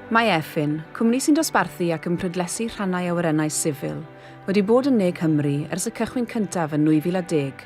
Mae Efin, cwmni sy'n dosbarthu ac yn prydlesu rhannau awyrennau sifil, wedi bod yn Ne Cymru ers y cychwyn cyntaf yn 2010.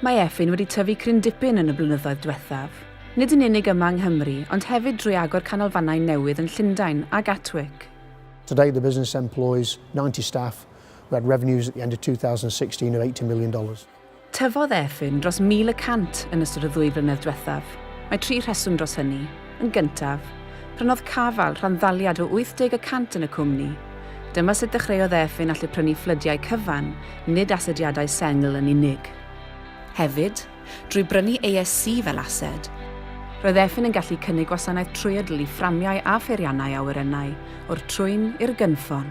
Mae Efin wedi tyfu cryn dipyn yn y blynyddoedd dwethaf. Nid yn unig yma yng Nghymru, ond hefyd drwy agor canolfannau newydd yn Llundain a Gatwick. Today the business employs ninety staff, we had revenues at the end of 2016 of eighty million dollars. Tyfodd Efin dros 1,100 yn ystod y ddwy flynedd dwethaf. Mae tri rheswm dros hynny. Yn gyntaf, prynodd Caval rhan-ddaliad o 80 y cant yn y cwmni. Dyma sut ddechreuodd ef fe'n allu prynu fflydiau cyfan, nid asediadau sengl yn unig. Hefyd, drwy brynu ASC fel ased, roedd ef fe'n yn gallu cynnig gwasanaeth trwyadl i fframiau a pheiriannau awyrennau, o'r trwyn i'r gynffon.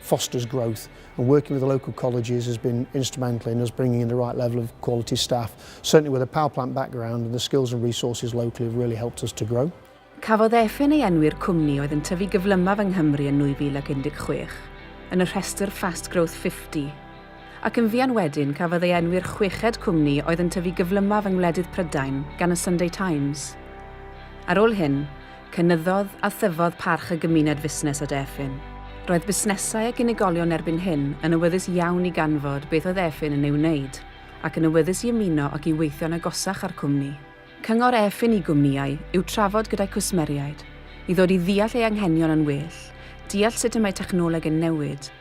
fosters growth and working with the local colleges has been instrumental in us bringing in the right level of quality staff. Certainly with a power plant background and the skills and resources locally have really helped us to grow. Cafodd Efin ei enwi'r cwmni oedd yn tyfu gyflymaf yng Nghymru yn 2016, yn y rhestr Fast Growth 50, ac yn fuan wedyn cafodd ei enwi'r chweched cwmni oedd yn tyfu gyflymaf yng ngwledydd Prydain gan y Sunday Times. Ar ôl hyn, Cynyddodd a thyfodd parch y gymuned fusnes at Efin. Roedd busnesau ac unigolion erbyn hyn yn awyddus iawn i ganfod beth oedd Efin yn ei wneud, ac yn awyddus i ymuno ac i weithio'n agosach â'r cwmni. Cyngor Efin i gwmnïau yw trafod gyda'u cwsmeriaid, i ddod i ddeall eu hanghenion yn well, deall sut y mae technoleg yn newid,